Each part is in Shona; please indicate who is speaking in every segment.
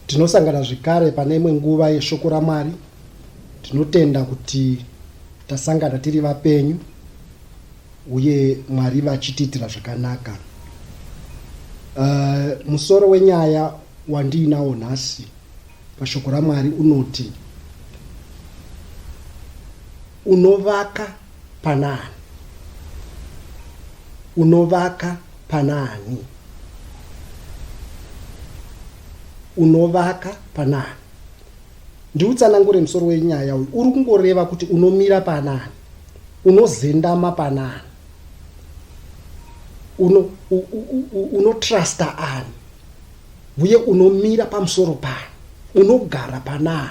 Speaker 1: Tinosangana zvekare pane imwe nguva yeshoko raMwari. Tinotenda kuti tasangana tiri vapenyu uye Mwari vachitiitira zvakanaka. Uh, musoro wenyaya wandiinawo nhasi pashoko raMwari unoti unovaka panaani? Unovaka panaani? Unovaka panaani? Ndiutsanangure musoro wenyaya uyu. Uri kungoreva kuti unomira panaani? Unozendama panaani? Uno unotrusta ani? Uye unomira pamusoro paani? Unogara panaani?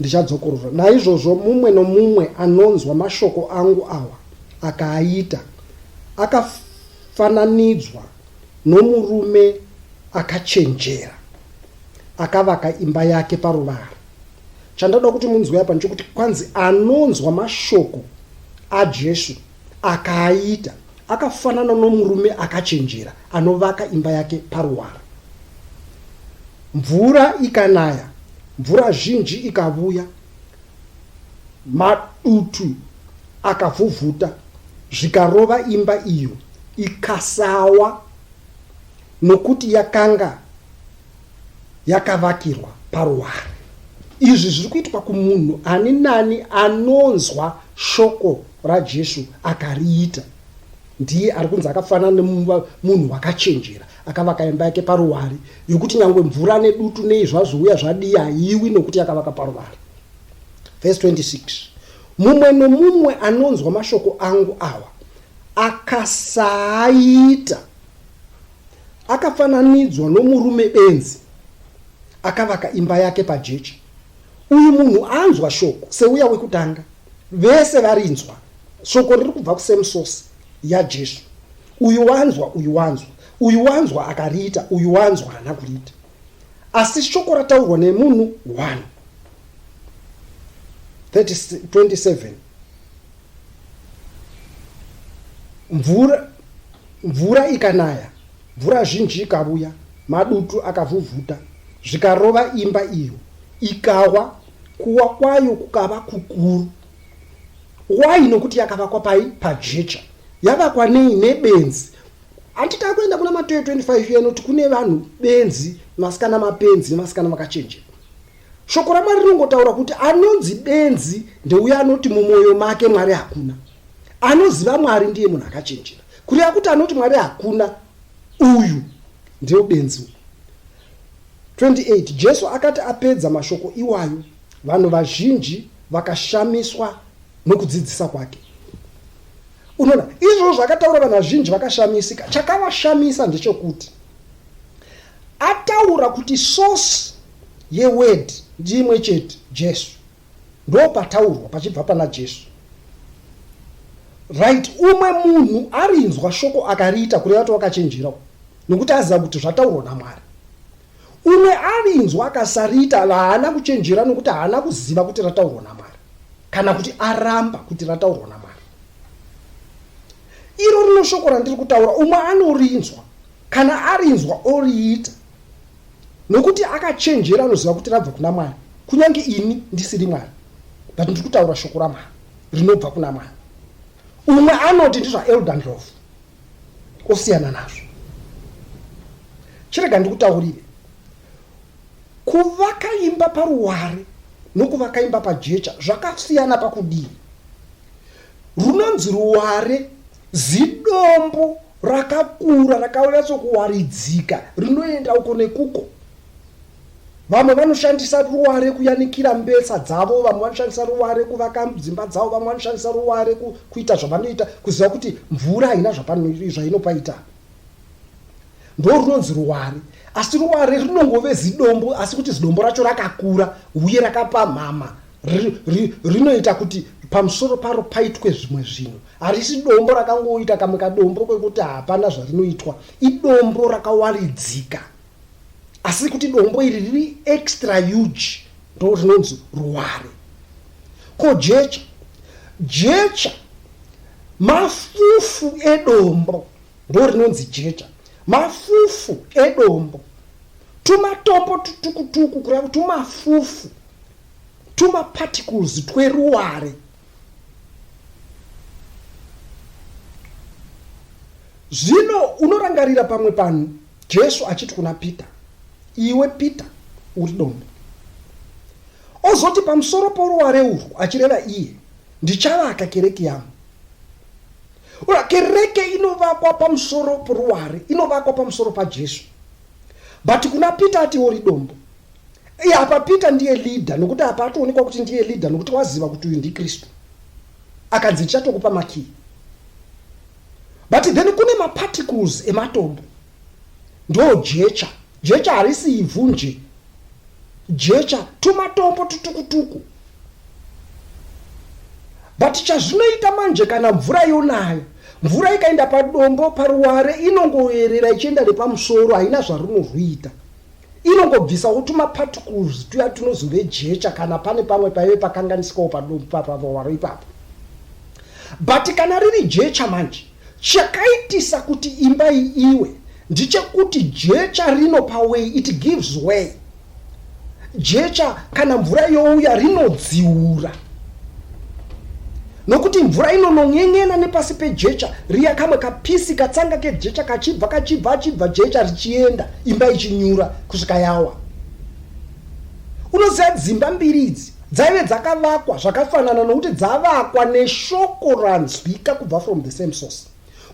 Speaker 1: ndichadzokorora naizvozvo mumwe nomumwe anonzwa mashoko angu awa akaaita akafananidzwa nomurume akachenjera akavaka imba yake paruvara chandoda kuti munzwe apa nchokuti kwanzi anonzwa mashoko ajesu Akaaita akafanana nomurume akachenjera anovaka imba yake paruwara. Mvura ikanaya, mvura zhinji ikavuya, madutu akavhuvhuta zvikarova imba iyo ikasawa nokuti yakanga yakavakirwa paruware. Izvi zviri kuitwa kumunhu ani nani anonzwa shoko raJesu akariita. Ndiye ari kunzi akafanana nemunhu wakachenjera akavaka imba yake paruware yokuti nyangwe mvura nedutu nei zvazouya zvadii haiwi nokuti yakavaka paruware. Verse 26 mumwe nomumwe anonzwa mashoko angu awa akasaaita akafananidzwa nomurume benzi akavaka imba yake pajechi uyu munhu anzwa shoko seuya wekutanga vese varinzwa shoko riri kubva kusemusosi yajesu uyu wanzwa uyu wanzwa uyu wanzwa akariita uyu wanzwa haana kuriita asi shoko rataurwa nemunhu one 27 mvura mvura ikanaya mvura zhinji ikavuya madutu akavhuvhuta zvikarova imba iyo ikawa kuwa kwayo kukava kukuru wai nokuti yakavakwa pai pajecha yavakwa nei nebenzi handita kuenda kuna matoyo 25 yanoti kune vanhu benzi masikana mapenzi nemasikana makachenjera Shoko raMwari rinongotaura kuti anonzi benzi ndeuya anoti mumwoyo make Mwari hakuna. Anoziva Mwari ndiye munhu akachenjera. Kureva kuti anoti Mwari hakuna uyu ndiyo benzi uyu. 28 Jesu akati apedza mashoko iwayo, vanhu vazhinji vakashamiswa nokudzidzisa kwake. Unoona, izvozvo zvakataura vanhu vazhinji vakashamisika. Chakavashamisa ndechokuti ataura kuti source Ye word ndiimwe chete Jesu ndopataurwa pachibva pana Jesu right umwe munhu arinzwa shoko akariita kureva kuti wakachenjerawo nokuti aziva kuti zvataurwa namwari umwe arinzwa akasariita haana kuchenjera nokuti haana kuziva kuti rataurwa namwari kana kuti aramba kuti rataurwa namwari iro rino shoko randiri kutaura umwe anorinzwa Kana arinzwa oriita nokuti akachenjera anoziva kuti rabva kuna Mwari, kunyange ini ndisiri Mwari, but ndiri kutaura shoko raMwari rinobva kuna Mwari. Umwe anoti ndizvaElder Ndlovu, osiyana nazvo. Chirega ndikutaurire, kuvaka imba paruware nokuvaka imba pajecha zvakasiyana pakudii. Runonzi ruware Zidombo rakakura rakanyatsokuwaridzika rinoenda uko nekuko. Vamwe vanoshandisa ruware kuyanikira mbesa dzavo, vamwe vanoshandisa ruware kuvaka dzimba dzavo, vamwe vanoshandisa ruware kuita zvavanoita kuziva kuti mvura haina zvainopaita. Ndo runonzi ruware. Asi ruware rinongove zidombo asi kuti zidombo racho rakakura uye rakapamhama rinoita ri, ri kuti pamusoro paro paitwe zvimwe zvinhu harisi dombo rakangoita kamwe kadombo kwekuti hapana zvarinoitwa idombo rakawaridzika asi kuti dombo iri riri extra huge ndo rinonzi ruware ko jecha jecha mafufu edombo ndo rinonzi jecha mafufu edombo tumatombo tutukutuku kureva kuti tumafufu tumaparticles tweruware zvino unorangarira pamwe panhu jesu achiti kuna peter iwe peter uri donde ozoti pamusoro poruware urwu achireva iye ndichavaka kereke yangu ura kereke inovakwa pamusoro poruware inovakwa pamusoro pajesu but kuna peter ati uri dombo Iye apa Peter ndiye leader nokuti apa atoonekwa kuti ndiye leader nokuti waziva kuti uyu ndiKristu. Akanzi ndichatokupa makii. But then kune maparticles ematombo. Ndo jecha. Jecha harisi ivhu nje. Jecha tumatombo tutukutuku. But chazvinoita manje kana mvura yonayo. Mvura ikaenda padombo paruware inongoerera ichienda nepamusoro haina zvarunorwita. Inongobvisawo tumaparticles tuya tunozove jecha kana pane pamwe paive pakanganisikawo padumbu papavawaro ipapo. But kana riri jecha manje, chakaitisa kuti imba iyi iwe ndichekuti jecha rino paway it gives way. Jecha kana mvura youya rinodziura. Nokuti mvura inonon'en'ena nepasi pejecha riya, kamwe kapisi katsanga kejecha kachibva, kachibva, achibva jecha richienda, imba ichinyura kusvika yawa. Unoziva dzimba mbiri idzi dzaive dzakavakwa zvakafanana nokuti dzavakwa neshoko ranzwika kubva from the same source.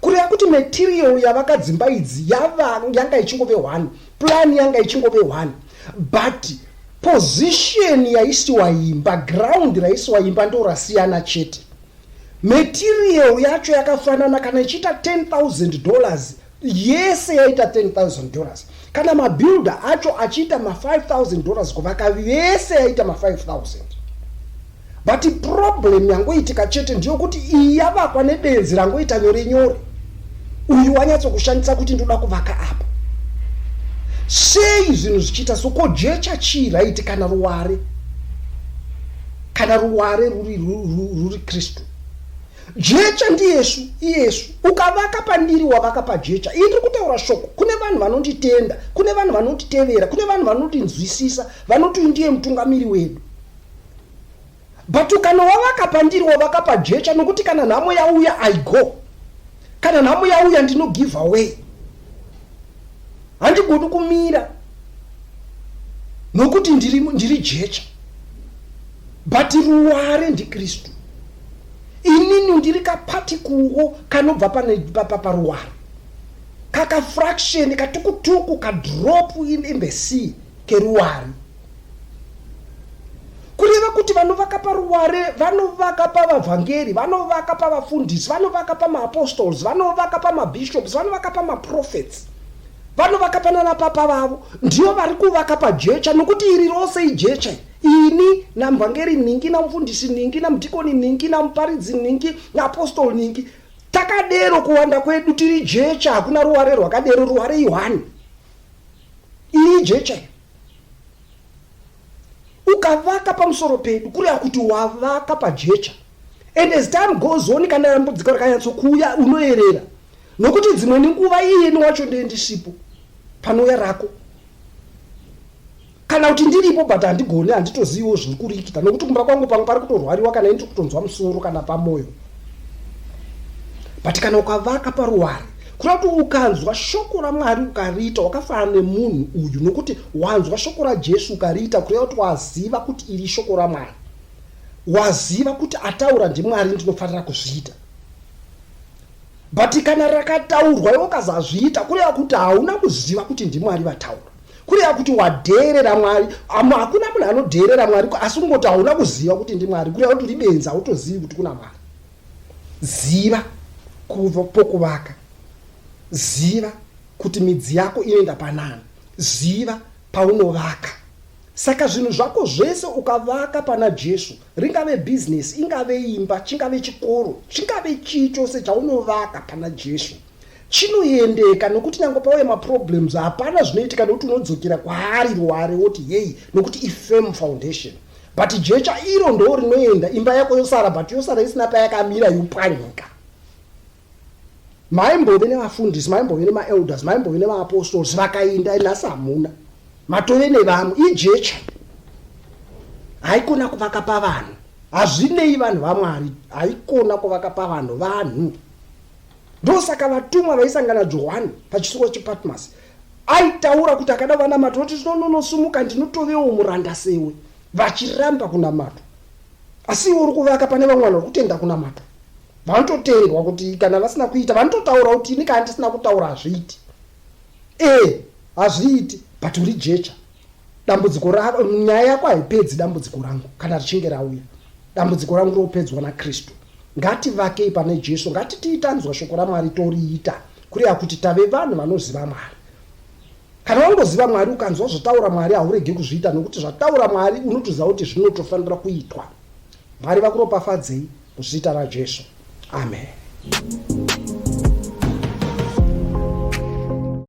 Speaker 1: kureva kuti material yavakadzimba idzi yava yanga ichingove one plan yanga ichingove one but position yaisiwa imba ground raisiwa imba ndo rasiyana chete material yacho yakafanana kana ichiita 10000 dollars yese yaita 10000 dollars kana mabuilder acho achiita ma5000 dollars kuvaka vese yaita ma5000 But problem yangoitika chete ndiyokuti iyi yavakwa nebenzi rangoita nyore nyore. Uyu wanyatsokushandisa kuti ndoda kuvaka apa. Sei zvinhu zvichiita so ko jecha chii raiti kana ruware? Kana ruware ruri ruri Kristu. Jecha ndiyesu iyesu ukavaka pandiri wavaka pajecha. Ini ndiri kutaura shoko kune vanhu vanonditenda, kune vanhu vanonditevera, kune vanhu vanondinzwisisa, vanoti ndiye mutungamiri wedu. but ukanova vakapa ndiriwo vakapa jecha nokuti kana nhamo yauya i go kana nhamo yauya ndino give away handigodi kumira nokuti ndiri, ndiri jecha but ruware ndikristu inini ndiri kapatikuwo kanobva paruware kakafraction katukutuku kadrop in, in the sea keruware kureva kuti vanovaka paruware vanovaka pavavhangeri vanovaka pavafundisi vanovaka pamaapostoles vanovaka pamabishops vanovaka pamaprofets vanovaka panana papa vavo ndivo vari kuvaka pajecha nokuti iri rose ijecha ini namvhangeri ningi namufundisi ningi namudhikoni ningi namuparidzi ningi naapostol ningi takadero kuwanda kwedu tiri jecha hakuna ruware rwakadero ruware ihwani iri jecha ukavaka pamusoro pedu kureva kuti wavaka pajecha and as time goes on kana rambudziko rakanyatsokuuya unoerera nokuti dzimwe nenguva iyeni wacho ndee ndisipo panouya rako kana kuti ndiripo but handigone handitoziviwo zviri kurikita nokuti kumba kwangu pangu pari kutorwariwa kana ini tiri kutonzwa musoro kana pamoyo but kana ukavaka paruware kuda kuti ukanzwa shoko ramwari ukariita wakafanana nemunhu uyu nokuti wanzwa shoko rajesu ukariita kureva kuti waziva kuti iri shoko ramwari waziva kuti ataura ndimwari ndinofanira kuzviita but kana rakataurwa iwe ukazazviita kureva kuti hauna kuziva kuti ndimwari vataura kureva kuti wadheerera mwari amo hakuna munhu anodheerera mwari asi kungoti hauna kuziva kuti ndimwari kureva kuti uri benzi hautozivi kuti kuna mwari ziva kuva pokuvaka ziva kuti midzi yako inoenda panani ziva paunovaka saka zvinhu zvako zvese ukavaka pana jesu ringave bhizinesi ingave imba chingave chikoro chingave chii chose chaunovaka pana jesu chinoendeka nokuti nyange pauya maproblems hapana zvinoitika nokuti unodzokera kwaari ruware woti yei nokuti ifirm foundation but jecha iro ndoo rinoenda imba yako yosara but yosara isina payakamira yopwanyika maimbove nevafundisi maimbove nemaelders maimbove nevaapostols vakainda nhasi hamuna matove nevamwe ijecha haikona kuvaka pavanhu hazvinei vanhu vamwari haikona kuvaka pavanhu vanhu ndosaka vatumwa vaisangana johani pachisuwa chepatmasi aitaura kuti akada vanamata oti tinononosumuka ndinotovewo muranda sewe vachiramba kunamata asi iwe uri kuvaka pane vamwe vanhu vari kutenda kunamata vanototendwa kuti kana vasina kuita vanototaura kuti ini kana ndisina kutaura hazviiti ee hazviiti but uri jecha dambudziko rako nyaya yako haipedzi dambudziko rangu kana richinge rauya dambudziko rangu ropedzwa nakristu ngativakei pane jesu ngatitii tanzwa shoko ramwari toriita kureva kuti tave vanhu vanoziva mwari kana wangoziva mwari ukanzwa zvotaura mwari haurege kuzviita nokuti zvataura mwari unotoziva kuti zvinotofanira kuitwa mwari vakuropafadzei kuzita rajesu amen